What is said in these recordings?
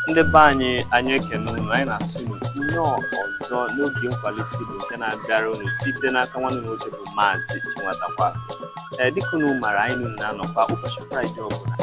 ndị be anyị anyị ekene unu anyị na-asị unu nnọọ ọzọ n'oge nkwalite Igbo nke na-abịara unu site n'aka nwanne nwoke bụ Maazị Chinwatakwa ee dịka unu mara anyị na unu na-anọkwa ụbọchị Fraịde ọbụla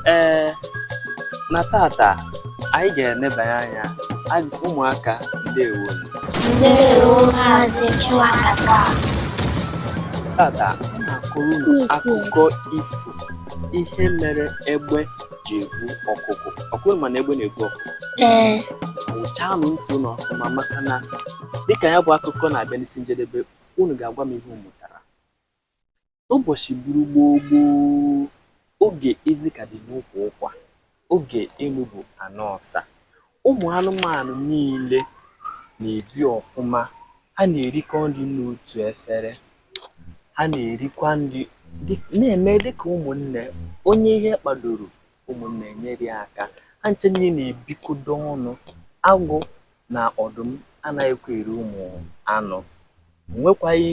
ee na tata anyị ga-enebanye anya ag- ụmụaka ndewo Ndewo Maazị Chinwatakwa. tata m na-akọrọ unu akụkọ ifo ihe mere egbe ji egbu ọkụkụ ọ kwa unu ma na egbe na-egbu ọkụkụ ee wụchanụ ntị unu ọfụma maka na dịka ya bụ akụkọ na-abịa n'isi njedebe unu ga-agwa m ihe unu mụtara ụbọchị bụrụ gboo gboo oge ezi ka dị n'ụkwụ ụkwa Oge enu bụ ana ọsa. Ụmụ anụmanụ niile na-ebi ọfụma. Ha na-erikọ nri n'otu efere. Ha na-erikwa nri na-eme dị ka ụmụnne. Onye ihe kpadoro, ụmụnne enyere ya aka. Ha ncha niile na-ebikọdo ọnụ. Agụ na ọdụm anaghịkwa eri ụmụ anụ. O nwekwaghị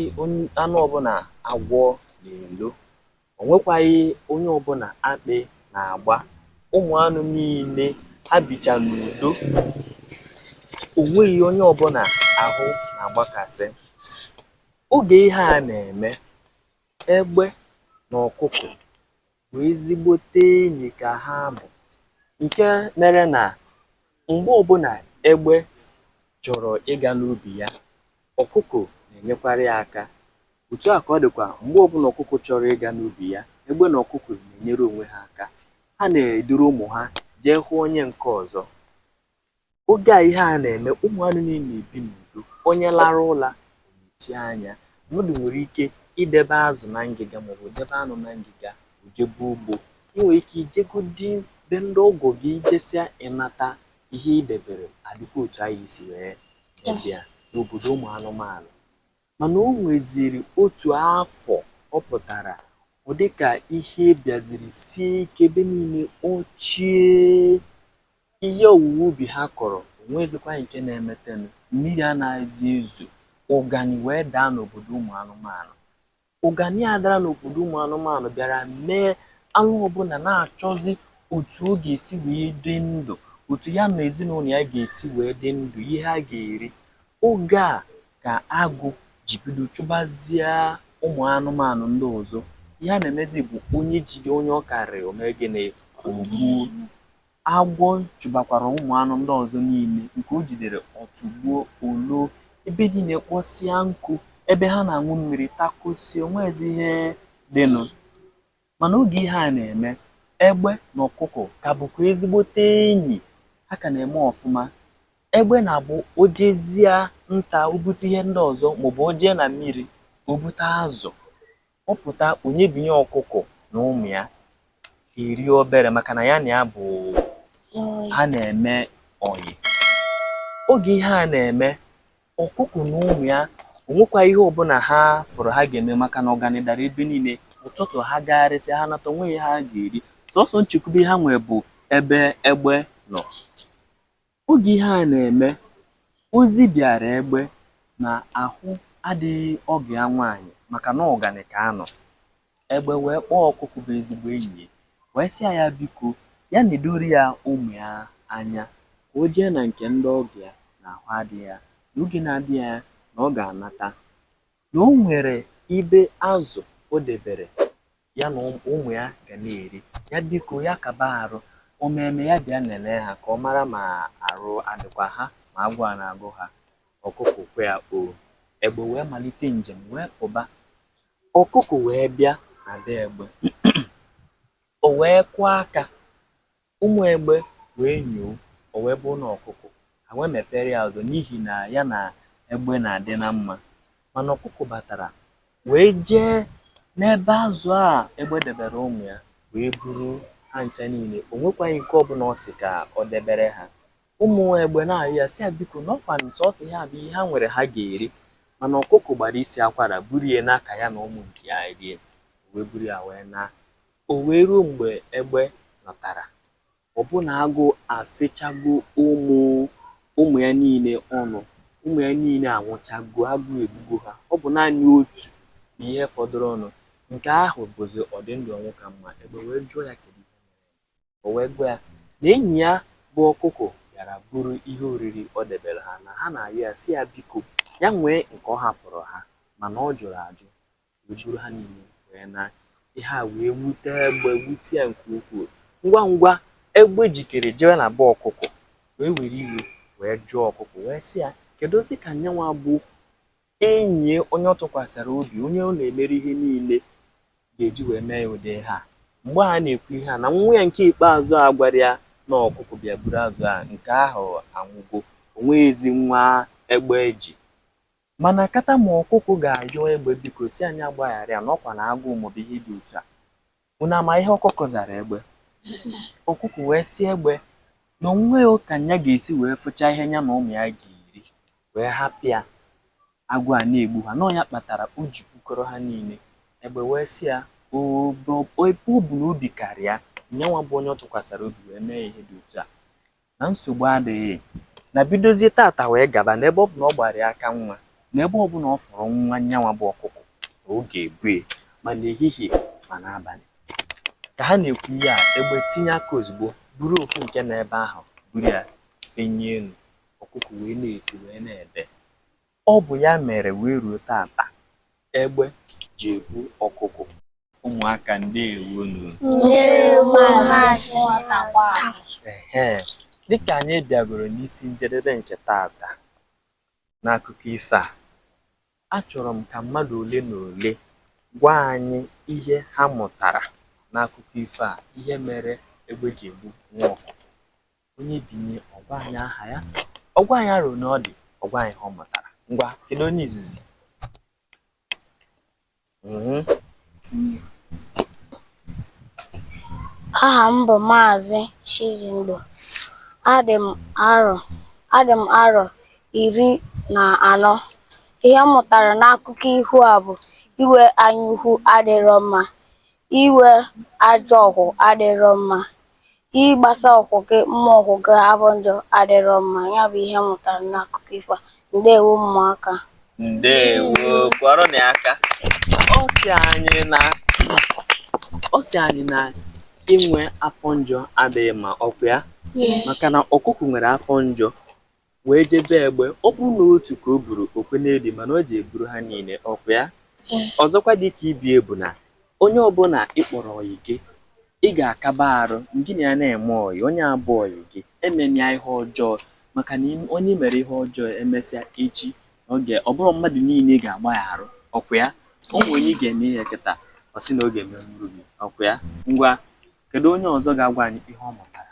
anụ ọbụla agwọ na-elo. O nwekwaghị onye ọbụla akpị na-agba. Ụmụ anụ niile ha bicha n'udo. O nweghị onye ọbụla ahụ na-agbakasị. Oge ihe a na-eme, egbe na ọkụkụ bụ ezigbote enyi ka ha bụ nke mere na Mgbe ọbụla egbe chọrọ ịga n'ubi ya, ọkụkụ na-enyekwara ya aka. Otu a ka ọ dịkwa mgbe ọbụla ọkụkụ chọrọ ịga n'ubi ya, egbe na ọkụkụ na-enyere onwe ha aka. Ha na-eduru ụmụ ha jee hụ onye nke ọzọ. Oge a ihe a na-eme, ụmụ anụ niile na-ebi n'udo. Onye larụ ụla, mechie anya mmadụ nwere ike idebe azụ na ngịga maọbụ debe anụ na ngịga o jebe ugbo i nwere ike ijegodi be ndị ọgọ gị i jesịa ị nata ihe i debere adịkwa otu a i si wee mezie ya n'obodo ụmụ anụmanụ mana o nweziri otu afọ ọ pụtara ọ dịka ihe bịaziri sie ike ebe niile kpọchie Ihe owuwe ubi ha kọrọ onweghịzịkwa nke na-emetenụ. Mmiri anaghịzị ezo. Ụganị wee daa n'obodo ụmụ anụmanụ. Ụganị a dara n'obodo ụmụ anụmanụ bịara mee anụ ọbụla na-achọzị otu ọ ga-esi wee dị ndụ, otu ya na ezinụlọ ya ga-esi wee dị ndụ, ihe ha ga-eri. Oge a ka agụ ji bido chụbazịa ụmụ anụmanụ ndị ọzọ. Ihe a na-emezị bụ onye jide onye ọ karịrị, o mee gịnị? O gbuo. Agwọ chụbakwara ụmụ anụ ndị ọzọ niile nke o jidere, ọ tụgbuo, o loo, ebe niile kpọsịa nkụ, ebe ha na-aṅụ mmiri takọsịa, o nweghịzi ihe dịnụ. Mana oge ihe a na-eme, egbe na ọkụkọ ka bụkwa ezigbote enyi, ha ka na-eme ọfụma. Egbe na-abụ o jezịa nta, o bute ihe ndị ọzọ maọbụ o jee na mmiri, o bute azụ. ọ pụta o nyebinye ọkụkọ na ụmụ ya erie obere maka na ya na ya bụ ha na-eme ọyị oge ihe a na-eme ọkụkọ na ụmụ ya o nwekwa ihe ọbụla ha fụrụ ha ga-eme maka na ụganị dara ebe niile ụtụtụ ha gagharịsị ha nata o nweghị ihe ha ga-eri sọsọ nchekwube ha nwe bụ ebe egbe nọ Oge ihe a na-eme, ozi bịaara Egbe na ahụ adịghị ọgọ ya nwaanyị maka na ụganị ka a nọ. Egbe wee kpọọ Ọkụkụ bụ ezigbo enyi ya wee sị ya ya biko ya nedoro ya ụmụ ya anya ka o jee na nke ndị ọgọ ya na ahụ adịghị ya na oge na-adịghị anya na ọ ga-anata. na o nwere ibe azụ o debere ya na ụmụ ya ga na-eri ya biko ya kaba arụ o meeme ya bịa nenee ha ka ọ mara ma arụ adịkwa ha ma agụụ a na-agụ ha ọkụkụ kwe ya oo egbe wee malite njem wee pụba ọkụkụ wee bịa na be egbe o wee kụọ aka Ụmụ egbe wee nyoo, o wee bụrụ na ọkụkụ, ha wee mepeere ya ụzọ n'ihi na ya na egbe na-adị na mma. Mana ọkụkụ batara wee jee n'ebe azụ a egbe debere ụmụ ya wee buru ha ncha niile. O nwekwaghị nke ọbụla ọ sị ka ọ debere ha. Ụmụ egbe na-arịọ ya sị ya biko na ọkwa sọsọ ihe a bụ ihe ha nwere ha ga-eri. Mana ọkụkụ gbara isi akwara buru ya naa ka ya na ụmụ nke ya rie. O wee buru ya wee na O wee ruo mgbe egbe lọtara, ọbụna agụụ afechago ụmụ ya niile ọnụ. Ụmụ ya niile anwụchago, agụụ egbugo ha. Ọ bụ naanị otu bụ ihe fọdụrụnụ. Nke ahụ bụzi ọ dị ndụ ọnwụ ka mma. Egbe wee jụọ ya kedu ihe mere ya. O wee gwa ya na enyi ya bụ ọkụkọ bịara buru ihe oriri o debere ha, na ha na-ayọ ya sị ya biko ya nwee nke ọ hapụrụ ha, mana ọ jụrụ ajụ. wee buru ha niile wee na ihe a wee wute egbe wute ya nke ukwuu ngwa ngwa egbe jikere jewe na be ọkụkọ wee were iwe wee jụọ ọkụkọ wee sị ya keduzi ka nyanwa bụ enyi onye ọ tụkwasịrị obi onye ọ na-emere ihe niile ga-eji wee mee ụdị ihe a mgbe a na-ekwu ihe a na nwa ya nke ikpeazụ a gwara ya na ọkụkọ bịa buru azụ a nke ahụ anwụgo onweghịzi nwa egbe ji Mana kata ma ọkụkụ ga-ayọ egbe biko sị ya nya gbaghara ya na ọkwa na agụụ maọbụ ihe dị otu a. Unu ama ihe ọkụkụ zara egbe? Ọkụkụ wee sị egbe na o nweghị ka ya ga-esi wee fụcha ihe ya na ụmụ ya ga-eri wee hapụ ya agụụ ana-egbu ha. Na ọ ya kpatara o ji bukọrọ ha niile. Egbe wee sị ya oo ebe ọ bụ na obi kara ya, nyanwa bụ onye ọ tụkwasara obi wee mee ya ihe dị otu a. na nsogbu adịghị na bidozie tata wee gaba na ebe ọ bụ na ọ gbara ya aka nwa na ebe ọbụla ọ fụrụ nwa nyanwa bụ ọkụkọ na ọ ga-ebu ya ma n'ehihie ma n'abalị ka ha na-ekwu ihe a egbe tinye aka ozugbo buru ofu nke na ebe ahụ buru ya fenye elu ọkụkọ wee na-eti wee na-ebe Ọ bụ ya mere wee ruo tata egbe ji ebu ọkụkụ. Ụmụaka ndewo nu. Ndewo Maazị Nwatakwaa. Ehee, dịka anyị bịagoro n'isi njedebe nke tata n'akụkọ ifo a, achọrọ m ka mmadụ ole na ole gwa anyị ihe ha mụtara n'akụkọ ifo a, ihe mere egbe ji ebu nwa ọkụkụ. onye binye ọ gwa anyị aha ya ọ gwa anyị arọ one ọ dị ọ gwa anyị ihe ọ mụtara ngwa kedu onye izizi mhm. aha m bụ maazị Chijindu adị m arọ adị m arọ iri na anọ ihe m mụtara n'akụkọ ifo a bụ inwe anyaukwu adịrọ mma inwe ajọ ọkwụ adịrọ mma Ịgbasa ọkwụ gị mma ọkwụ gị abụ njọ adịrọ mma ya bụ ihe m mụtara n'akụkọ ifo a ndewo ụmụaka ndewo kụọrọ nya aka ọ sị anyị na ọ sị anyị na inwe afọ njọ adịghị mma ọkwa ya maka na ọkụkụ nwere afọ njọ wee je be egbe ọ bụrụ na otu ka o buru o kwe n'edi mana o je buru ha niile ọkwa ya eh. ọzọkwa dịka ibe ya bụ na onye ọbụla ị kpọrọ ọyị gị ị ga-akaba arụ gị na ya na-eme ọyị onye bụ ọyị gị emena ya ihe ọjọọ maka na onye mere ihe ọjọọ emesịa echi ọ bụrụ mmadụ niile ga-agba ya arụ ọkwa ya ọ nwere onye ị ga-eme ihe kịta ọ sị na ọ ga-emerụ gị ọkwa ya ngwa kedu onye ọzọ ga-agwa anyị ihe ọ mụtara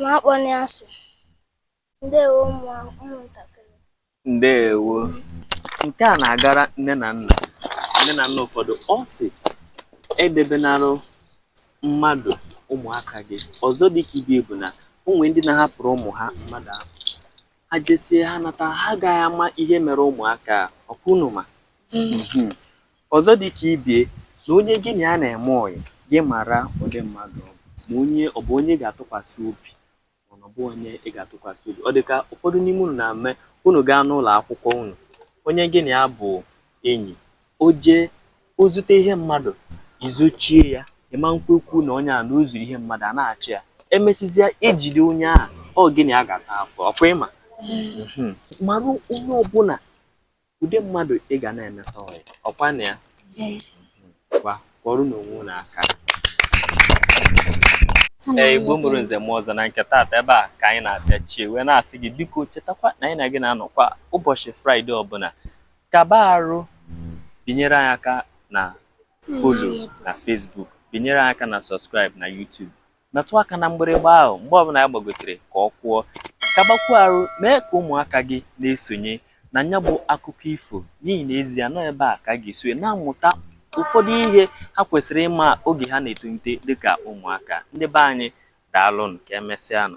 Ma akpọni asị. Ndewo ụmụntakịrị. Ndewo. Nke a na-agara nne na nna. Nne na nna ụfọdụ ọ sị edebenarụ mmadụ ụmụaka gị. Ọzọ dị ka ibe bụ na o nwere ndị na-ahapụrụ ụmụ ha mmadụ ahụ. Ha jesie ha nata ha agaghị ama ihe mere ụmụaka a. Ọkwa unu ma? Hmm. Hmm. Ọzọ dị ka ibie na onye gị na ya na-eme ọyị gị mara ụdị mmadụ ọ bụ ma onye ọ bụ onye ị ga-atụkwasị obi mana ọ bụ onye ị ga-atụkwasị obi ọ dị ka ụfọdụ n'ime unu na-eme unu gaa n'ụlọ akwụkwọ unu onye gị na ya bụ enyi o jee o zute ihe mmadụ i zochie ya ị ma nkwekwu na onye a na o zuru ihe mmadụ a na-achọ ya emesịzịa ejide onye ahụ ọ gị na ya ga-ata afụfụ ọkwa ị ma mara onye ọbụla ụdị mmadụ ị ga na-emeta ọyị ọkwanụ ya ngwa kụọrọnụ onwe unu aka ee igbo mụrụ nze mụọ ọzọ na nke taata ebe a ka anyị na-apịachie wee na-asị gị biko chetakwa na anyị na gị na-anọkwa ụbọchị fraịde ọbụla kaba arụ binyere anyị aka na folo na fesbuk binyere anyị aka na sọskraịb na yutubu metụ aka na mgbịrịgba ahụ mgbe ọbụla ya gbagotere ka ọ kụọ kabakwuo arụ mee ka ụmụaka gị na-esonye na nya bụ akụkọ ifo n'ihi na ezie na ọ ebe a ka ha ga-esi na-amụta ụfọdụ ihe ha kwesịrị ịma oge ha na-etolite dịka ụmụaka ndị be anyị daalụnụ ka emesịanụ